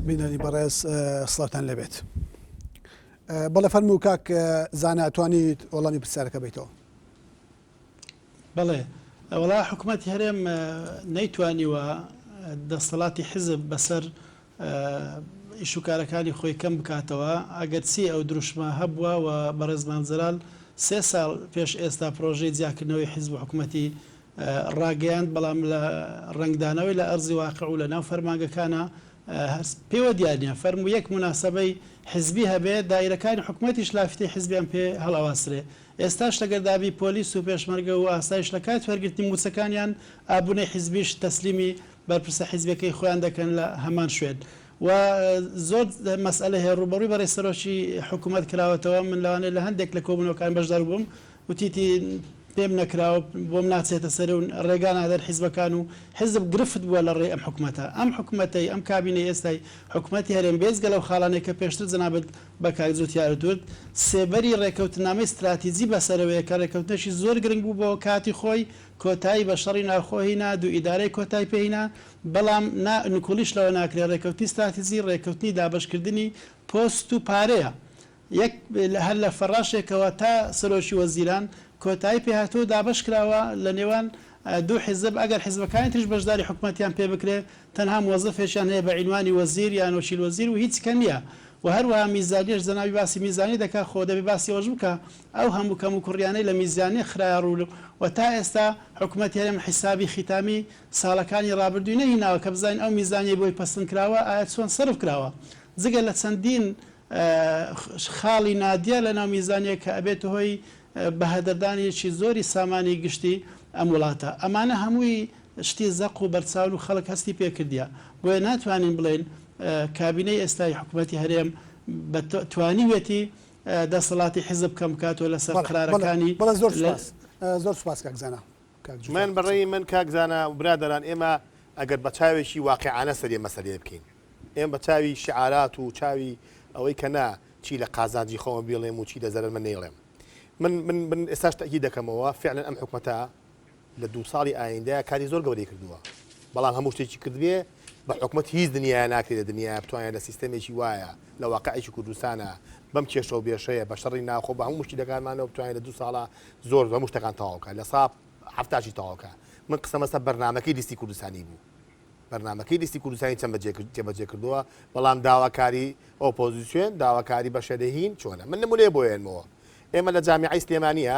بینەری بەڕێز سڵاتان لەبێت بەڵێ فەرمو و کاک زاناتوانیت وەڵامی پرسیارەکە بیتەوە بەڵێ ئەوڵا حکوومەت هەرێم نەیتوانیوە دەستەڵاتی حزب بەسەر ئیش و کارەکانی خۆی کەم بکاتەوە ئەگەر چی ئەو دروشمە هەبووە و بەڕێز مام جەلال سێ ساڵ پێش ئێستا پڕۆژەی جیاکردنەوەی حیزب و حکومەتی ڕاگەیاند بەڵام لە ڕەنگدانەوەی لە ئەرزی واقع و لە ناو فەرمانگەکانا هەر پێوە دیار نیە فەرموو یەک موناسەبەی حیزبی هەبێ دایرەکانی حکومەتیش لافتەی حیزبیان پێ هەڵئەواسرێ ئێستاش ئەگەر دابی پۆلیس و پێشمەرگە و ئاسایش لە کاتی وەرگرتنی موچەکانیان ئابونەی حیزبیش تەسلیمی بەرپرسە حیزبیەکەی خۆیان دەکەن لە هەمان شوێن و زۆر مەسئەلە هەیە ڕووبەڕووی بەڕێز سەرۆکی حکوومەت کراوەتەوە من لەوانەیە لە هەندێک لە کۆبوونەوەکان بەشدار بووم وتیتی پێم نەکراوە بۆم ناچێتە سەر و ڕێگا نادەن حیزبەکان و حیزب گرفت بووە لە ڕێی ئەم حکوومەتە ئەم حکوومەتەی ئەم کابینەی ئێستای حکوومەتی هەرێم بێجگە لەو خاڵانەی کە پێشتر جەنابت بە کاک جووتیارت وت سێبەری ڕێککەوتننامەی ستراتیجی بەسەرەوەیە کە ڕێککەوتنێکی زۆر گرنگ بوو بۆ کاتی خۆی کۆتایی بە شەڕی ناوخۆ هینا، دوو ئیدارەی کۆتای پێ هینا، بەڵام نا نکوڵیش لەوە ناکرێ رێکەوتنی ستراتیجی رێکەوتنی دابەشکردنی پۆست و پارەیە یەک هەر لە فەڕاشێکەوە تا سەرۆکی وەزیران کۆتایی پێ هاتووە و دابەش کراوە لە نێوان دوو حیزب ئەگەر حیزبەکانی تریش بەشداری حکومەتیان پێ بکرێ تەنها موەزەفێکیان هەیە بە عینوانی وەزیر یان وەکیل وەزیر و هیچ کە نیە و هەروەها میزانیەش جەنابی باسی میزانی دەکا خۆ دەبێ باسی ئەوەش بکا ئەو هەموو کەموکوڕیانەی لە میزیانە خرایە ڕوو و تا ئێستا حکومەتی هەرێم حیسابی خیتامی ساڵەکانی ڕابردووی نەهیناوە کە بزانین ئەو میزانیەی بۆی پەسند کراوە ئایا چۆن سەرف کراوە جگە لە چەندین خاڵی نادیار لە ناو میزانیە کە ئەبێتە هۆی بەهەدەردانێکی زۆری سامانی گشتی ئەم وڵاتە. ئەمانە هەمووی شتی زەق و بەرچاون و خەڵک هەستی پێ کردیە بۆیە ناتوانین بڵێین کابینەی ئێستای حکومەتی هەرێم بە توانیوێتی دەسەڵاتی حیزب کەم بکاتەوە لەسەر بەڵێ بەڵێ قەرارەکانی بەڵێ زۆر لە سوپاس زۆر سوپاس کاک زانا کاک جوتیار من بە قسەی ڕێی من کاک زانا و برادەران ئێمە ئەگەر بە چاوێکی واقیعانە سەرێ مەسەلەیە بکەین ئێمە بە چاوی شیعارات و چاوی ئەوەی کە نا چی لە قازانجی خۆمە بیڵێم و چی لە زەرەرمە نەیڵێم من من من ئێستاش تەئکید دەکەمەوە فعلەن ئەم حکومەتە لە دوو ساڵی ئایندە کاری زۆر گەورەی کردووە بەڵام هەموو شتێکی کردبێ بە حکومەت هیچ دنیایە ناکرێت لە دنیایە بتوانێت لە سیستەمێکی وایە لە واقعێکی کوردستانە بەم کێشە و بێشەیە بە شەڕی ناوخۆ بە هەموو مشکلەکانمانەوە بتوانێت لە دوو ساڵە زۆر هەموو شتەکان تەواوکە لە ساب هەفتاشی تەواوکە من قسەمەسە بەرنمەکەی لیستی کوردستانی بوو بەرنمەکەی لیستی کوردستانی چەند بەجێ جێبەجێ کردووە بەڵام داواکاری ئۆپۆزیسیۆن داواکاری بەشەرهین چۆنە من نمونەیە بۆیانمەوە ئێمە لە جامیعی سلێمانیە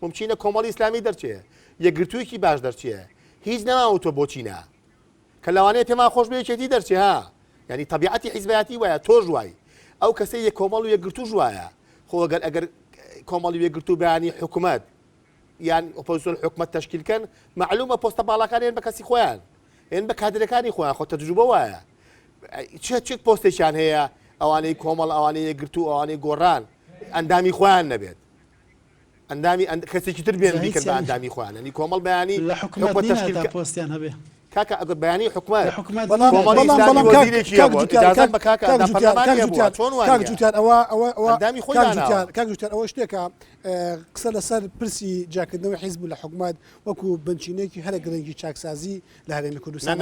مومچینە کۆمەڵی ئیسلامی دەرچێ یەکگرتوویەکی باش دەرچێ هیچ نەماوە تۆ بۆچی نا کە لەوانەیە پێمان خۆش بێ یەکێتی دەرچێ ها یعنی طبیعەتی حیزبایەتی وایە تۆش وای ئەو کەسەی یە کۆمەڵ و یەکگرتووش وایە خۆ گەر ئەگەر کۆمەڵی وێگرتو بەیانی حکوومەت یان ئۆپۆزیسۆن حکومت تشکیلکەن معلومە پۆستە باڵاکان هێن بە کەسی خۆیان هێن بە کادرەکانی خۆیان خۆ تەجروبە وایە چێ چێک پۆستێکیان هەیە ئەوانەی کۆمەڵ ئەوانەیە گرتو ئەوانەی گۆڕان ئەندامی خۆیان نەبێت ئەندامی ئەند کەسێکی تر بێن بیکەن بە ئەندامی خۆیان ئەنی کۆمەڵ بەیانی لە حکومەت تەشکیل کە پۆستیان هەبێ کاکە ئەگەر بەیانی حکومەت حکومەت کاکجوتیان ئەوە شتێکە قسە لەسەر پرسی جاکردنەوەی حیزب لە حکومەت وەکو بنچینێکی هەرە گرنگی چاکسازی لە هەرێمی کوردستان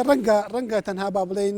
ڕەنگە ڕەنگە تەنها با بڵین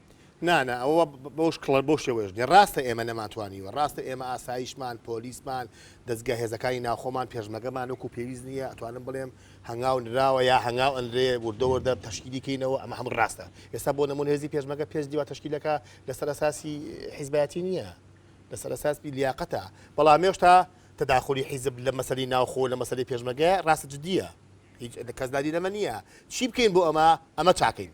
نا نا ئەوە بەوش کڵە بەو شێوەیەش نیە ڕاستە ئێمە نەمانتوانیوە ڕاستە ئێمە ئاسایشمان پۆلیسمان دەزگە هێزەکانی ناوخۆمان پێشمەگەمان وەکو پێویست نییە ئەتوانم بڵێم هەنگاو نراوە یا هەنگاو ئەنرێ وردە وردە تەشکیلی کەینەوە ئەمە هەموو ڕاستە ئێستا بۆ نمون هێزی پێشمەگە پێش دیوە تەشکیلەکە لەسەر ئەساسی حیزبەتی نییە لەسەر ئەساس لیاقەتە بەڵام هێشتا تداخلی حیزب لە مەسەری ناوخۆ لە مەسەری پێشمەگە ڕاستە جددیە هیچ کەسداری لەمە نییە چی بکەین بۆ ئەمە ئەمە چاکەین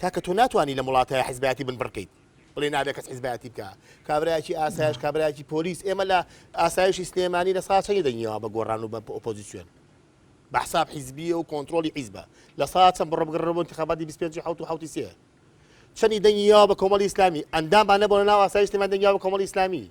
کاکە تۆ ناتوانی لەم وڵاتایا حیزبایەتی بن بڕکەیت بڵێی نابێ کەس حیزبایەتی بکا کابرایەکی ئاسایش کابرایەکی پۆلیس ئێمە لە ئاسایشی سلێمانی لە ساچەنی دەنگیەوە بە گۆڕان و بە ئۆپۆزیسیۆن بە حساب حیزبیە و کۆنترۆلی حیزبە لە ساچەن بڕۆ بگەڕێ بۆ انتخاباتی 25 حوت و حوتی سێ چەنی دەنگیەوە بە کۆمەڵی ئیسلامی ئەندامانە بۆ لە ناو ئاسایش سلێمان دەنگیەوە بە کۆمەڵی ئیسلامی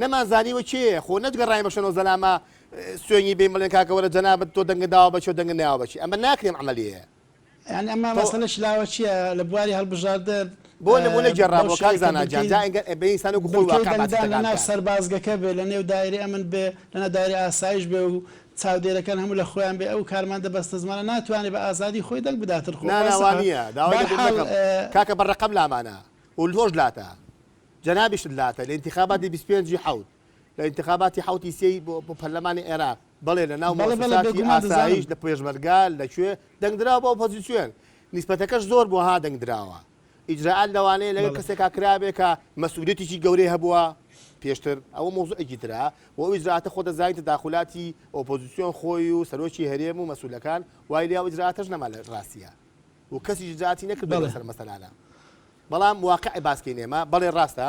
نەمان زانیوە کێیە خۆ نەتگەڕاین بە شەنۆ زەلامە سوێنی بین بڵێن کاکە وەرە جەنابت تۆ دەنگت داوە بە کێ و دەنگت نەیاوە بە کێ ئەمە ناکرێم عەمەلیەیە. یانی ئەمە تۆ مەسەلە شلاوە چیە لە بواری هەڵبژاردن بۆ نمونە بەو گێڕامەوە کاک شێوەی کە زانا گیان بنکەی جا ئینگە ئەبێ ئینسان وەکو خۆی بنکەی واقع باسی دەنگدان لە دەقان ناو بکات. سەربازگەکە بێ لە نێو دایرەی ئەمن بێ لە ناو دایرەی ئاسایش بێ و چاودێرەکان هەموو لە خۆیان بێ ئەو کارمەندە بەستەزمانە ناتوانێ بە ئازادی خۆی دەنگ بداتن خۆ نا نا وا واسەحە نیە داوای بار لێبوردن حاڵ نەکەم کاکە بە رەقەم لامانە و لۆش لاتە جەنابیشت لاتە لە ئینتیخاباتی بیست و پێنج ی حەوت لە ئینتیخاباتی حەوت ی سێ ی بۆ بۆ پەرلەمانی عێراق بەڵێ لە ناو بەڵێ بەڵێ مۆسساتی بێگومان دەزانم. ئاسایش لە پێشمەرگە لە کوێ دەنگ دراوە بە ئۆپۆزیسیۆن نیسبەتەکەش زۆر بووە ها دەنگ دراوە ئیجرائات لەوانەیە لەوێ بەڵێ. کەسێکا کرابێ کە مەسئولیەتێکی گەورەی هەبووە پێشتر ئەوە مەوزوعێکی ترە و ئەو ئیجرائاتە خۆ دەزانی تەداخولاتی ئۆپۆزیسیۆن خۆی و سەرۆکی هەرێم و مەسئولەکان وای لێیە ئەو ئیجرائاتەش نەما لە ڕاستیا و کەسیش ئیجرائاتی نەکردووە بەڵێ. لەسەر مەسەلانە. بەڵام واقع باسکەین ئێمە. بەڵێ ڕاستە.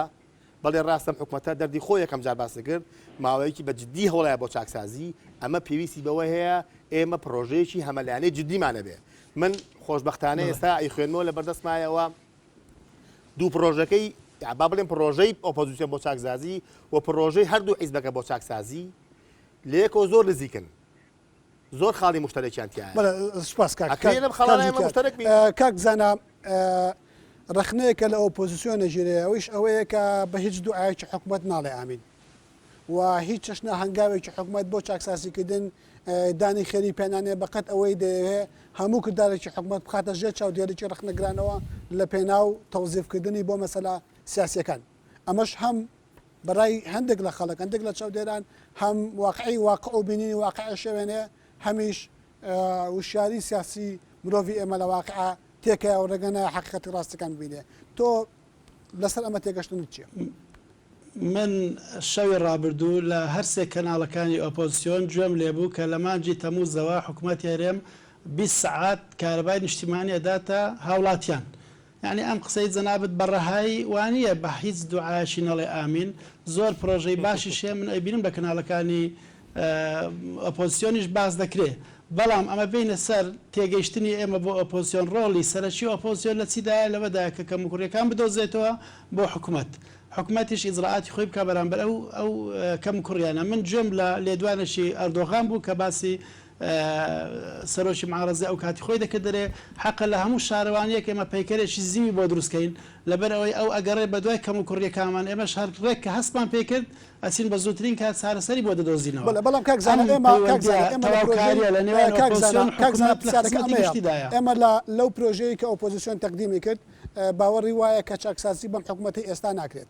بەڵێ ڕاستە ئەم حکومەتە دەردی خۆی یەکەم جار باس دەکرد، ماوەیەکی بە جددی هەوڵایە بۆ چاکسازی، ئەمە پێویستی بەوە هەیە ئێمە پڕۆژەیەکی هەمەلایەنەی جددیمان هەبێ. من خۆشبەختانە بەڵێ. ئێستا ئەیخوێنمەوە لە بەردەستمایەوە دوو پڕۆژەکەی یان با بڵێم پڕۆژەی ئۆپۆزیسیۆن بۆ چاکزازی و پڕۆژەی هەردوو حیزبەکە بۆ چاکسازی لە یەکەوە زۆر نزیکن. زۆر خاڵی مشتەرەکیان تیایە بەڵێ سوپاس کاک ئەکرێ لەم خاڵانە کاک ئێمە جوتیار. مشتەرەک بین ئە، کاک بزانە ئە، ڕەخنەیە کە لە ئۆپۆزیسیۆن ئەگیرێ ئەویش ئەوەیە کە بە هیچ دوعایەکی حکومەت ناڵێ ئامین و هیچ چەشنە هەنگاوێکی حکومەت بۆ چاکسازیکردن ئە، دانی خێری پێ نانێ بە قەد ئەوەی دەیەوێ هەموو کردارێکی حکومەت بخاتە ژێر چاودێریی ڕەخنەگرانەوە لە پێناو تەوزیفکردنی بۆ مەسەلە سیاسییەکان. ئەمەش هەم بەرای هەندێک لە خەڵک هەندێک لە چاودێران هەم واقعی واقع و بینینی واقعی شەوێنێ هەمیش وشیاری سیاسی مرۆڤی ئێمە لە واقع تێکەوە و ڕێگە نایە حقیقەتی ڕاستەکان ببینێ تۆ لەسەر ئەمە تێگەشتنت چییە؟ من شەوی ڕابردوو لە هەرسێ کەناڵەکانی ئۆپۆزسیۆن گوێم لێبوو کە لە مانگی تەمووزەوە حکومەتی هەرێم بیست سەعات کارەبای نیشتیمانی ئەداتە هاوڵاتیان یەعنی ئەم قسەی جەنابت بە ڕەهایی وانیە بە هیچ دوعایەکی نەڵێ ئامین زۆر پرۆژەی باشیش هەیە من ئەیبینم لە کەناڵەکانی ئۆپۆزسیۆنیش باس دەکرێ بەڵام ئەمە بێینە سەر تێگەیشتنی ئێمە بۆ ئۆپۆزسیۆن ڕۆڵی سەرەکی ئۆپۆزسیۆن لە چیدایە لەوەدایە کە کەموکوڕیەکان بدۆزێتەوە بۆ حکومەت حکومەتیش ئیجرائاتی خۆی بکا بەرامبەر ئەو ئەو کەموکوڕیانە من گوێم لە لێدوانێکی ئەردۆغان بوو کە باسی سەرۆکی معارەزە ئەو کاتی خۆی دەکرد دەرێ، حەقە لە هەموو شارەوانییەک ئێمە پەیکەرێکی زیوی بۆ دروست کەین، لەبەر ئەوەی ئەو ئەگەڕێ بە دوای کەموکوڕییەکانمان، ئێمەش هەر ڕێک کە هەستمان پێی کرد، ئەچین بە زووترین کات چارەسەری بۆ دەدۆزینەوە. بەڵێ، بەڵام کاک زانا ئێمە، کاک زانا ئێمە لە پرۆژەی، کاک زانا، کاک زانا پرسیارەکە ئەمەیە، ئێمە لە لەو پرۆژەیەی کە ئۆپۆزیسیۆن تەقدیمی کرد، باوەڕی وایە کە چاکسازی بەم حکوومەتەی ئێستا ناکرێت،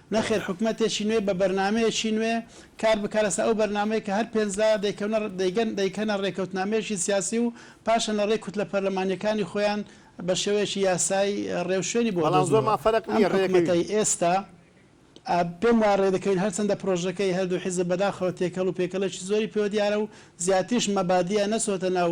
نەخێر حکومەتێکی نوێ بە بەرنامەیەکی نوێ کار بکا لەسەر ئەو بەرنامەی کە هەر پێنج لا دەیکەونە دەیگەن دەیکەنە رێکەوتنامەیەکی سیاسی و پاشان لە رێی کوتلە پەرلەمانیەکانی خۆیان بە شێوەیەکی یاسایی رێوشوێنی بۆ بەڵام زۆرمان دۆزنەوە فەرق ئەم نیە رێکەوی. حکومەتەی ئێستا ئا پێم وایە رێدەکەوین هەرچەندە پرۆژەکەی هەردوو حیزب بەداخەوە تێکەڵ و پێکەڵێکی زۆری پێوە دیارە و زیاتریش مەبادیئە نەچۆتە ناو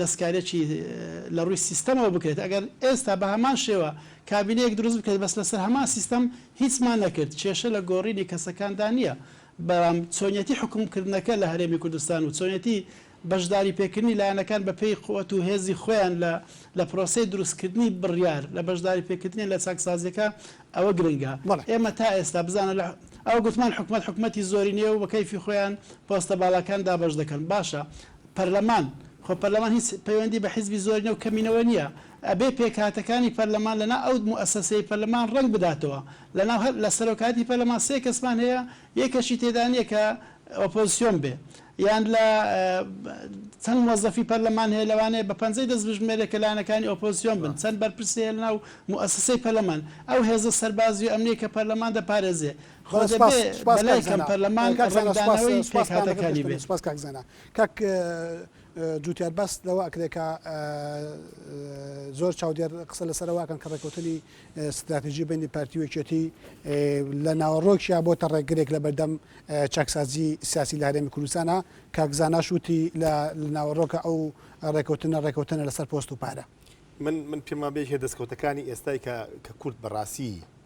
دەستکاریی لە ڕووی سیستەمەوە بکرێت، ئەگەر ئێستا بە هەمان شێوە کابینەیەک دروست بکرێت بەس لەسەر هەمان سیستەم هیچمان نەکرد، کێشە لە گۆڕینی کەسەکاندا نییە، بەڵام چۆنیەتی حوکمکردنەکە لە هەرێمی کوردستان و چۆنیەتی بەشداری پێکردنی لایەنەکان بە پێی قوت و هێزی خۆیان لە لە پرۆسەی دروستکردنی بڕیار لە بەشداری پێکردنیان لە چاکسازیەکە ئەوە گرنگە ئێمە تا ئێستا بزانە لە ئەوە گوتمان حکومەت حکومەتی زۆرینەیە و بە کەیفی خۆیان پۆستە باڵاکان دابەش دەکەن باشە پەرلەمان، خۆ پەرلەمان هیچ پەیوەندی بە حیزبی زۆرینە و کەمینەوە نییە، ئەبێ پێکهاتەکانی پەرلەمان لەنا ئەو موئەسەسەی پەرلەمان ڕەنگ بداتەوە، لەناو هەر لە سەرۆکایەتی پەرلەمان سێ کەسمان هەیە، یەکەشی تێدا نییە کە ئۆپۆزسیۆن بێ، یان لە چەند مۆزەفی پەرلەمان هەیە لەوانەیە بە پەنجەی دەست بژمێرێ کە لایەنەکانی ئۆپۆزسیۆن بن، چەند بەرپرسی هەیە لەناو موئەسەسەی پەرلەمان، ئەو هێزە سەربازی و ئەمنیەی کە پەرلەمان دەپارێزێ، خۆ دەبێ بەلای کەم پەرلەمان ڕەنگدانەوەی پێکهاتەکانی بێت. سپاس کاک زانا. کاک جوتیار باست لەوە ئەکرێ کە زۆر چاودێر قسە لەسەر ئەوە ئەکەن کە ڕێکەوتنی ستراتیژی بەینی پارتی و یەکێتی لە ناوەڕۆکیان بۆتە ڕێگرێک لە بەردەم چاکسازی سیاسی لە هەرێمی کوردستانە، کاک زاناش وتی لە ناوەڕۆکە ئەو ڕێکەوتنە ڕێکەوتنە لەسەر پۆست و پارە. من من پێم وابێ هێ دەسکەوتەکانی ئێستای کە کە کورد بەڕاسی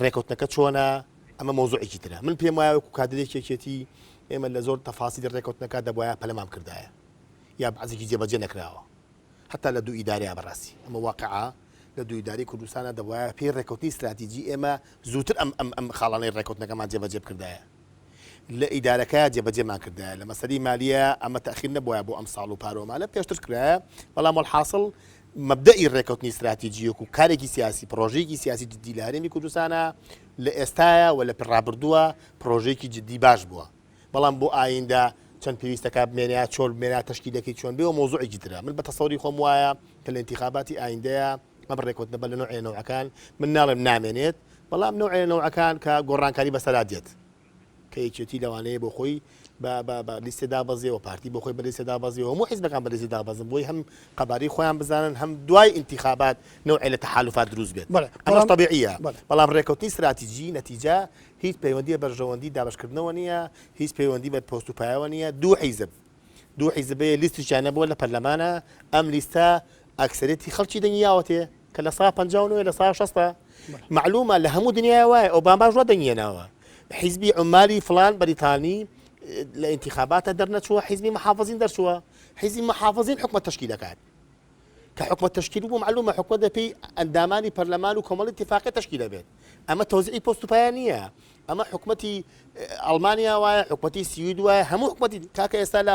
ڕێکەوتنەکە چۆنە ئەمە مۆزوعێکی ترە من پێم وایە وەکو کادرێکی یەکێتی ئێمە لە زۆر تەفاسیلی ڕێکەوتنەکە دەبواە پەلەمام کردایە یا بەعزێکی جێبەجێ نەکراوە هەتا لە دوو ئیدارەیە بەڕاستی ئەمە واقعا لە دوو ئیداری کوردستانە دەبواە پێی ڕێکەوتنی استراتیجی ئێمە زووتر ئەم ئەم ئەم خاڵانەی ڕێکەوتنەکەمان جێبەجێ بکردایە لە ئیدارەکە جێبەجێمان کردایە لە مەسەری مالیە ئەمە تاخیر نەبووە بۆ ئەم ساڵ و پارۆمانە پێشتر کرایە بەڵام هەڵحاصل مەبدەئی ڕێککەوتنی ستراتیجی وەکوو کارێکی سیاسی، پڕۆژەیەکی سیاسی جددی لە هەرێمی کوردستانە، لە ئێستایە و لە ڕابردووە پڕۆژەیەکی جددی باش بووە، بەڵام بۆ ئاییندە چەند پێویستە کار بمێنێ یا چۆل بمێنێ، تەشکیلەکەی چۆن بێ و مەوزوعێکی ترە. من بە تەسەوری خۆم وایە کە لە ئینتیخاباتی ئاییندەیە ئەم ڕێککەوتنە بە لە نەوعێ نەوعەکان، من ناڵێم نامێنێت، بەڵام نەوعێ لە نەوعەکان کە گۆڕانکاری بەسەرا دێت، کە یەکێتی لەوانەیە بۆ خۆی بە بە بە لیستێ دابەزێ و پارتی بۆ خۆی بە لیستێ دابەزێ و هەموو حیزبەکان بە لیستێ دابەزن بۆی هەم قەبارەی خۆیان بزانن هەم دوای ئینتیخابات نەوعێ لە تەحالوفات دروست بێت بەڵێ ئەمەش بەڵام تەبیعییە بەڵێ بەڵام ڕێککەوتنی ستراتیجی نەتیجە هیچ پەیوەندیی بە بەرژەوەندیی دابەشکردنەوە نییە هیچ پەیوەندیی بە پۆست و پایەوە نییە دوو حیزب دوو حیزب بەیە لیستیشیان نەبووە لە پەرلەمانا ئەم لیستە ئەکسەریەتی خەڵکی دەنگی یاوەتێ کە لە سا پەنجا و نۆیە لە سا شەستا مەعلومە لە هەموو دنیایا وایە ئۆباماش وا دەنگی هێناوە حیزبی عومالی فڵان بەریتانی لە ئینتیخاباتە دەرنەچووە حیزبی محافزین دەرچووە حیزبی محافزین حکومەت تەشکی دەکات کە حکومەت تەشکیل بوو معلومە حکومەت دەپێی ئەندامانی پەرلەمان و کۆمەڵی تفاقی تەشکی دەبێت ئەمە تۆزیعی پۆست و پایە نییە ئەمە حکومەتی ئەڵمانیا وایە حکومەتی سوید وایە هەموو حکومەتی کاکە ئێستا لە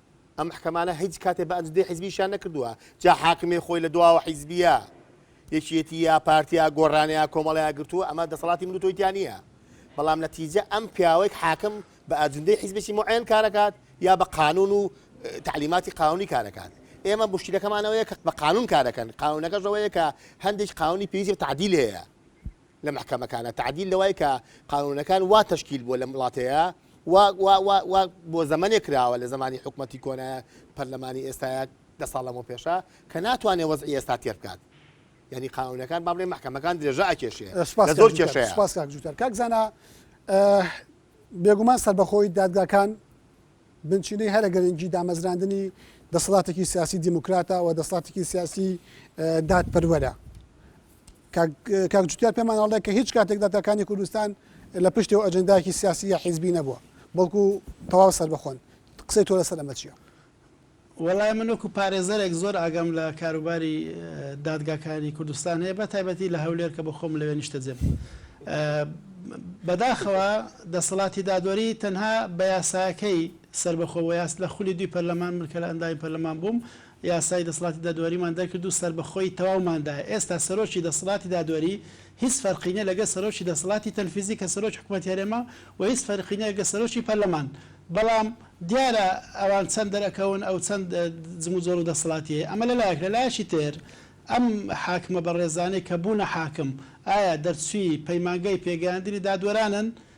ئەم محکەمانە هیچ کاتێ بە ئەنجدەی حیزبیشیان نەکردووە جا حاکمێ خۆی لە دواوە حیزبیە یەکێتی یا پارتیا گۆڕانەیە کۆمەڵەیە گرتووە ئەمە دەسەڵاتی من و تۆی تیا نییە بەڵام نەتیجە ئەم پیاوەیەک حاکم بە ئەجندەی حیزبێکی معێن کارەکات یا بە قانون و تعلیماتی قانونی کارەکات ئێمە مشکلەکەمانەوەیە کە بە قانون کارەکەن قانونەکەشەوەیە کە هەندێک قانونی پێویست تعدیل هەیە لە محکەمەکانە تعدیل لەوای کە قانونەکان وا تشکیل بووە لەم وڵاتەیە وا وا وا وا بۆ زەمەنێک کراوە لە زەمانی حکومەتی کۆنە پەرلەمانی ئێستایە دە ساڵ لەمەو پێشە کە ناتوانێ وەزعی ئێستا تێر بکات یانی قانونەکان با بڵێ مەحکەمەکان درێژە ئەکێشێ سپاس لە کاک زۆر جووتەر، کێشەیە سپاس کاک جووتەر. کاک زانا ئە بێگومان سەربەخۆی دادگاکان بنچینەی هەرە گرنگی دامەزراندنی دەسەڵاتێکی سیاسی دیموکراتە و دەسەڵاتێکی سیاسی ئە دادپەروەرە. کاک جوتیار پێمان ئەڵێ کە هیچ کاتێک داتاکانی کوردستان لە پشتێ و ئەجندایەکی سیاسی یا حیزبی نەبووە بەڵکو تەواو سەربەخۆن قسەی تۆ لەسەر ئەمە چیە؟ وەڵای من وەکو پارێزەرێک زۆر ئاگام لە کاروباری دادگاکانی کوردستان هەیە بە تایبەتی لە هەولێر کە بە خۆم لەوێ نیشتەجێم بەداخەوە دەسەڵاتی دادوەری تەنها بە یاساکەی سەربەخۆ وە یاس لە خولی دوی پەرلەمان من کە لە ئەندامی پەرلەمان بووم یاسای دەسڵاتی دادوەریمان دەرکرد و سەربەخۆیی تەواومان دا. ئێستا سەرۆکی دەسڵاتی دادوەری هیچ فەرقی نیە لەگەل سەرۆکی دەسڵاتی تەنفیزی کە سەرۆکی حکومەتی هەرێمە و هیچ فەرقی نیە لەگەل سەرۆکی پەرلەمان. بەڵام دیارە ئەوان چەند دەرەکەون ئەو چەند جموجۆڵ و دەسڵاتیەی. ئەمە لە لایەک. لە لایەکی تر ئەم حاکمە بەڕێزانەی کە بوونە حاکم ئایا دەرچوی پەیمانگای پێگەیاندنی دادوەرانن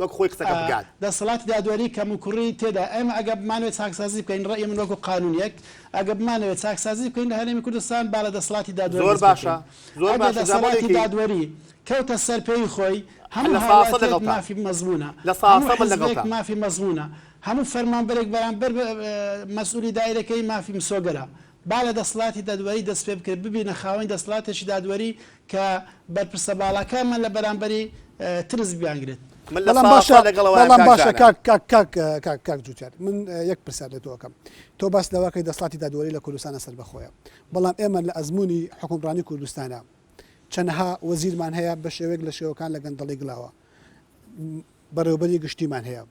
وەک خۆی قسەکە بگات. دەسەڵاتی دادوەری کەموکوڕی تێدایە. ئێمە ئەگەر بمانەوێت چاکسازی بکەین، ڕەئی من وەکو قانونیەک، ئەگەر بمانەوێت چاکسازی بکەین لە هەرێمی کوردستان با لە دەسەڵاتی دادوەر دەست پێبکەین. ئەگەر دەسەڵاتی دادوەری کەوتە سەر پێی خۆی، هەموو هاوڵاتیەک مافی مەزمونە، هەموو حزبێک مافی مەزمونە، هەموو فەرمانبەرێک بەرامبەر بە مەسئولی دائیرەکەی مافی مسۆگەرە. با لە دەسەڵاتی دادوەری دەست پێبکرێت، ببینە خاوەنی دەسەڵاتێکی دادوەری کە بەرپرسە باڵاکانمان لە بەرامبەری ترس بیانگرێت. بەڵام باشە بەڵام باشە کاک کاک کاک کاک کاک جوتیار من یەک پرسیار لە تۆ ئەکەم تۆ باست لەوە کەی دەسڵاتی دادوەری لە کوردستانە سەربەخۆیە بەڵام ئێمە لە ئەزموونی حوکمڕانی کوردستانە چەنەها وەزیرمان هەیە بە شێوەیەک لە شێوەکان لە گەندەڵی گلاوە بەڕێوەبەری گشتیمان هەیە.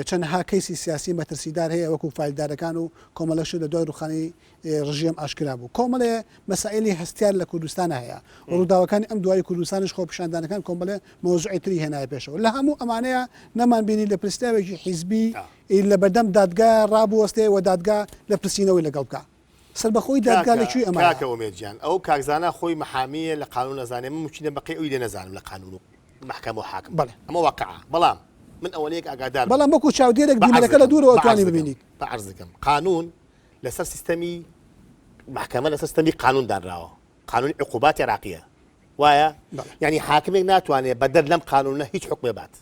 چەندەها کەیسی سیاسی مەترسیدار هەیە وەکو فایلدارەکان و کۆمەڵە شت لە دوای ڕووخانی ڕژێم ئاشکرا بوو. کۆمەڵێ مەسائیلی هەستیار لە کوردستان هەیە و ڕووداوەکانی ئەم دوایی کوردستانیش خۆپیشاندانەکان کۆمەڵێ مەوزوعی تری هێنایە پێشەوە. لە هەموو ئەمانەیە نەمان بینی لە پرسراوێکی حیزبی لەبەردەم دادگا ڕابوەستێ و دادگا لە پرسینەوەی لەگەڵ بکا. سەربەخۆی دادگا لە کوێی ئەمە؟ کاکە ئومێد گیان ئەو کاک زانا خۆی محامی یە لە قانون ئەزانێ من موچینە بەقەی ئەوی لێ نەزانم لە قانون و محکەمە و حاکم ئەمە واقعە بەڵام من ئەوەنەیەک ئاگادار بووم بەڵام وەکو چاودێرێک بینەرەکە لە دوورەوە ئەتوانی ببینیت بەعەرز دەکەم قانون لەسەر سیستەمی محکەمە لەسەر سیستەمی قانون دانراوە قانونی عقوبات عێراقیە وایە یانی حاکمێک ناتوانێ بەدەر لەم قانونە هیچ حوکمێ بات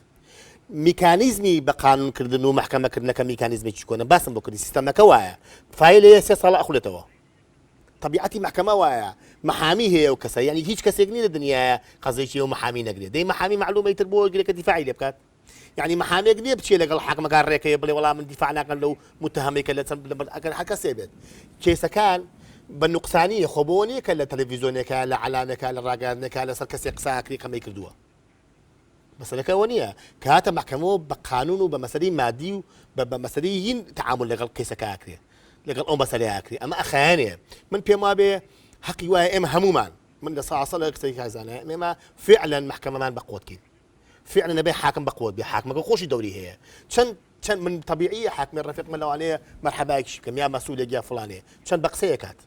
میکانیزمی بە قانون کردن و مەحکەمە کردنەکە میکانیزمێکی کۆنە باسم بۆ کردی سیستەمەکە وایە فایل هەیە سێ ساڵە ئەخولێتەوە طبیعەتی مەحکەمە وایە محامی هەیە و کەسە یعنی هیچ کەسێک نیە لە دنیاە قەزێکی و محامی نەگرێت دەی محامی معلومەی تر بۆ گرێکە دیفاعی لێ بکات یعنی محامێک نیە بچێ لەگەڵ حاکمەکان ڕێکەیە بڵێ وەڵام من دیفاع ناکەن لەو متهمێکە لە چەند لەبەر ئەگەر هەر کەسێ بێت کێسەکان بە نقصانی خۆ بۆ نیە کە لە تەلەڤیزیۆنێکە لە علامەکە لە ڕاگەاندنەکە لەسەر کەسێک قساکری قەمەی کردووە مەسەلەکە ئەوە نییە کە هاتە مەحکەمەوە بە قانون و بە مەسەلەی مادی و بە بە مەسەلەی هین تعامل لەگەڵ کەیسەکە ئاکرێ لەگەڵ ئەو مەسەلەی ئاکرێ ئەمە ئەخایەنێ من پێم وابێ حەقی وایە ئێمە هەمومان من لە ساسە لە کەسێک هەزانە ئێمە فعلا مەحکەمەمان بە قوتکەین فعلا نەبێ حاکم بە قوت بێ حاکمەکە خۆشی دەوری هەیە چەند چەند من طبیعی حاکمی ڕفقمە لەوانەیە مەرحەبایکیش بکەم یا مەسوولێک یا فلانێ چەند بە قسەیەکات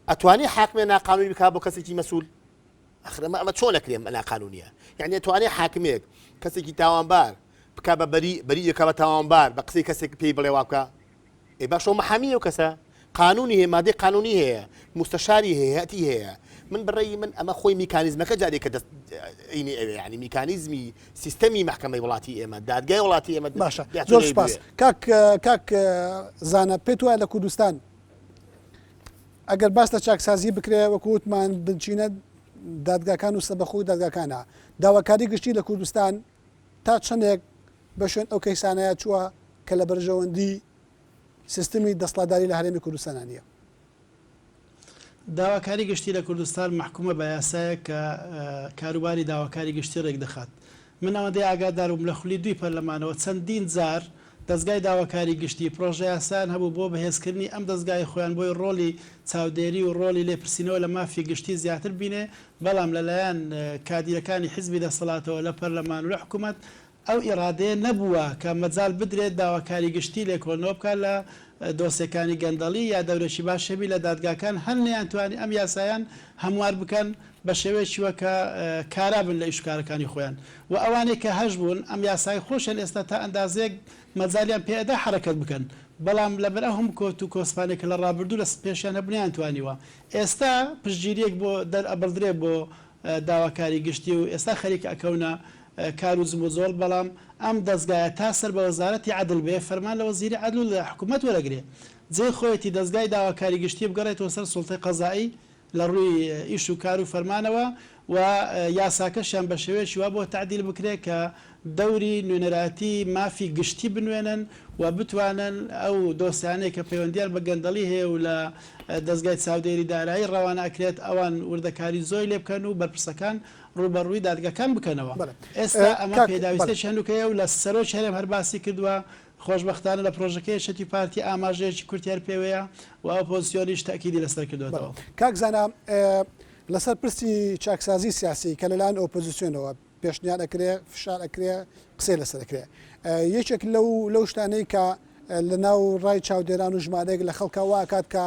ئەتوانی حاکمێ ناقانونی بکا بۆ کەسێکی مەسول ئەخر ئەمە ئەمە چۆن ئەکرێ ناقانونیە یعنی ئەتوانێ حاکمێک کەسێکی تاوانبار بکا بە بەری بەری یەکا بە تاوانبار بە قسەی کەسێک پێی بڵێ وا بکە ئێ باشەوە محامی ئەو کەسە قانونی هەیە مادەی قانونی هەیە مستەشاری هەیە هەتی هەیە من بڕێی من ئەمە خۆی میکانیزمەکە جارێکە دەست ئینی ئەوێ ینی میکانیزمی سیستەمی محکمەی وڵاتی ئێمە دادگای وڵاتی ئێمە باشە زۆر سپاس کاک کاک زانە پێت وایە لە کوردستان ئەگەر باس لە چاکسازی بکرێت وەکو وتمان بنچینە دادگاکان و سەبەخۆی دادگاکانە داواکاری گشتی لە کوردستان تا چەندێک بە شوێن ئەو کەیسانەیە چووە کە لە بەرژەوەندی سیستمی دەستڵاداری لە هەرێمی کوردستانە نیە داواکاری گشتی لە کوردستان محکومە بە یاسایە کە کاروباری داواکاری گشتی ڕێکدەخات من ئەوەندەی ئاگاداربووم لە خولی دووی پەرلەمانەوە چەندین جار دەزگای داواکاری گشتی پرۆژەیاسایان هەبوو بۆ بەهێزکردنی ئەم دەزگای خۆیان بۆی ڕۆڵی چاودێری و ڕۆڵی لێپرسینەوە لە مافی گشتی زیاتر بینێ بەڵام لەلایەن کادیرەکانی حیزبی دەسەڵاتەوە لە پەرلەمان و لە حکومەت ئەو ئیڕادەیە نەبووە کە مەجال بدرێت داواکاری گشتی لێکۆڵنەوە بکات لە دۆسێکانی گەندەڵی یا دەورێکی باشەبی لە دادگاکان هەر نەیانتوانی ئەم یاسایان هەموار بکەن بە شێوەیەکی وە کە کارا بن لە ئیش و کارەکانی خۆیان وە ئەوانەی کە هەش بوون ئەم یاسای خۆشیان ئێستا تا ئەندازەیەک مەجالیان پێ ئەدا حەرەکەت بکەن بەڵام لە بەر ئەو هەموو کۆت و کۆسپانەی کە لە ڕابردوو لە پێشیان هەبوو نەیان توانیوە ئێستا پشتگیریەک بۆ دەر ئەبڕدرێ بۆ داواکاری گشتی و ئێستا خەریکە ئەکەونە کار و جموجۆڵ بەڵام ئەم دەزگایە تا سەر بە وەزارەتی عەدل بێ فەرمان لە وەزیری عەدل و لە حکومەت وەرەگرێ جێی خۆیەتی دەزگای داواکاری گشتی بگەڕێتەوە سەر سوڵتەی قەزائی لە ڕووی ئیش و کار و فەرمانەوە و یاساکەشیان بە شێوەیەکی وا بۆ تەعدیل بکرێت کە دەوری نوێنەرایەتی مافی گشتی بنوێنن و بتوانن ئەو دۆسیانەی کە پەیوەندییان بە گەندەڵی هەیە و لە دەزگای چاودێری دارایی ڕەوانە ئەکرێت ئەوان وردەکاری زۆی لێ بکەن و بەرپرسەکان ڕووبەڕووی دادگاکان بکەنەوە. ئێستا ئەمە پێداویستییەکی هەنووکەیە و لە سەرۆکی هەرێم هەر باسی کردووە خۆشبەختانە لە پرۆژەکەی یەکێتی پارتی ئاماژەیەکی کورتیان پێوەیە و ئۆپۆزسیۆنیش تەئکیدی لەسەر کردۆتەوە. کاک زانا لەسەر پرسی چاکسازی سیاسی کە لەلایەن ئۆپۆزسیۆنەوە پێشنیار ئەکرێ فشار ئەکرێ قسەی لەسەر ئەکرێ یەکێک لەو لەو شتانەی کە لەناو ڕای چاودێران و ژمارەیەک لە خەڵکا وا ئەکات کە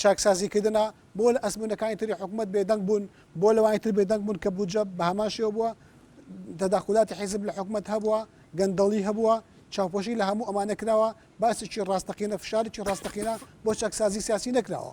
چاکسازیکردنە، بۆ لە ئەزموونەکانی تری حکومەت بێدەنگ بوون، بۆ لەوانی تر بێدەنگ بوون کە بودجە بە هەمان شێوە بووە، تەداخولاتی حیزب لە حکومەت هەبووە، گەندەڵی هەبووە، چاوپۆشی لە هەموو ئەمانە کراوە، باسێکی ڕاستەقینە، فشارێکی ڕاستەقینە بۆ چاکسازی سیاسی نەکراوە.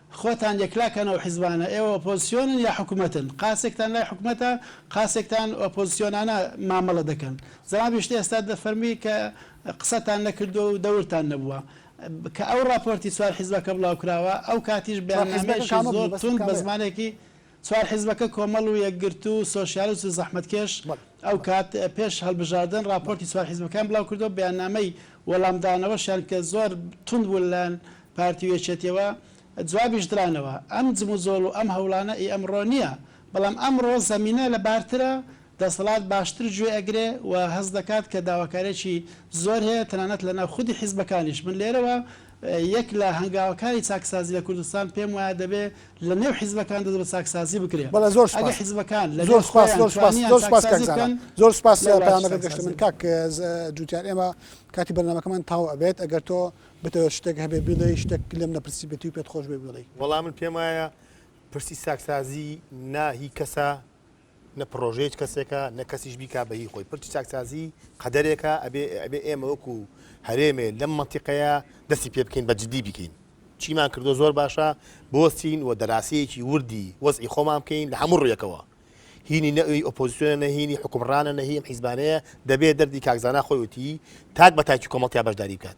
خۆتان یەکلا کەن ئەو حیزبانە ئێوە ئۆپۆزسیۆنن یا حکومەتن قاسێکتان لای حکومەتە قاسێکتان ئۆپۆزسیۆنانە مامەڵە دەکەن زەنابی شتێ ئێستا دەفەرمی کە قسەتان نەکردوە و دەورتان نەبوە کە ئەو ڕاپۆرتی چوار حیزبەکە بڵاو کراوە ئەو کاتیش بەیاننامەیەکی زۆر توند بە زمانێکی چوار حیزبەکە کۆمەڵ و یەکگرتوو و سۆشیالست و زەحمەتکێش ئەو کات پێش هەڵبژاردن ڕاپۆرتی چوار حیزبەکەیان بڵاو کردووە و بەیاننامەی وەڵامدانەوەشیان کە زۆر توند بوو لەلایەن پارتی و یەکێتیەوە جوابیش درانەوە. ئەم جموجۆڵ و ئەم هەوڵانە ئی ئەمڕۆ نیە بەڵام ئەمڕۆ زەمینە لە بارترە دەسەڵات باشتر گوێ ئەگرێ و هەست دەکات کە داواکاریەکی زۆر هەیە تەنانەت لەناو خودی حیزبەکانیش من لێرەوە یەک لە هەنگاوەکانی چاکسازی لە کوردستان پێم وایە دەبێ لە نێو حیزبەکان دەست بە چاکسازی بکرێ. بەڵێ زۆر سوپاس. ئەگەر حیزبەکان لە نێو خۆیان توانیان چاکسازی بکەن زۆر سوپاس لە پەیامەکەت گەشتە من. کاک جوتیار ئێمە کاتی بەرنامەکەمان تەواو ئەبێت ئەگەر تۆ بتەوێت شتێک هەبێ بیڵێی شتێک لێم نەپرسی بێتی و پێت خۆش بێ بیڵێی. وەڵا من پێم وایە پرسی چاکسازی نا هی کەسە نە پڕۆژە هیچ کەسێکە نە کەسیش بیکا بە هی خۆی پرچی چاکسازی قەدەرێکە ئەبێ ئەبێ ئێمە وەکو هەرێمێ لەم مەنتیقەیە دەستی پێ بکەین بە جدی بیکەین چیمان کردوە زۆر باشە بوەستین و دەراسەیەکی وردی وەزعی خۆمان بکەین لە هەموو ڕویەکەوە هینی نە ئەوی ئۆپۆزسیۆنە نە هینی حوکمڕانە نە هی ئەم حیزبانەیە دەبێ دەردی کاک زانا خۆی وتی تاک بە تاکی کۆمەڵتیا بەشداری بکات.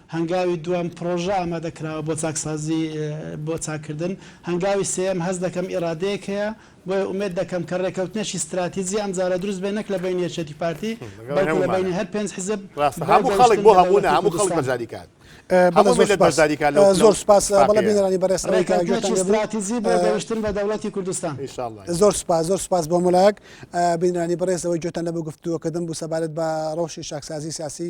هەنگاوی دووەم، پڕۆژە ئامادەکراوە بۆ چاکسازی بۆ چاککردن. هەنگاوی سێیەم، هەست دەکەم ئیرادەیەک هەیە، بۆیە ئومێد دەکەم کە رێککەوتنێکی ستراتیجی ئەمجارە دروست بێت نەک لە بەینی یەکێتی پارتی، بەڵکو لە بەینی هەر پێنج حزب بۆ گەیشتن بە دەوڵەتی کوردستان. بەڵێ زۆر سوپاس، زۆر سوپاس بەڵێ بینەرانی بەڕێز ئەوەی کە گوێتان لێبوو. رێککەوتنێکی ستراتیجی بۆ گەیشتن بە دەوڵەتی کوردستان. زۆر سوپاس، زۆر سوپاس بۆ هەموو لایەک. بینەرانی بەڕێز ئەوەی گوێتان لەم گفتوگۆکردن بوو سەبارەت بە رەوشی چاکسازی سیاسی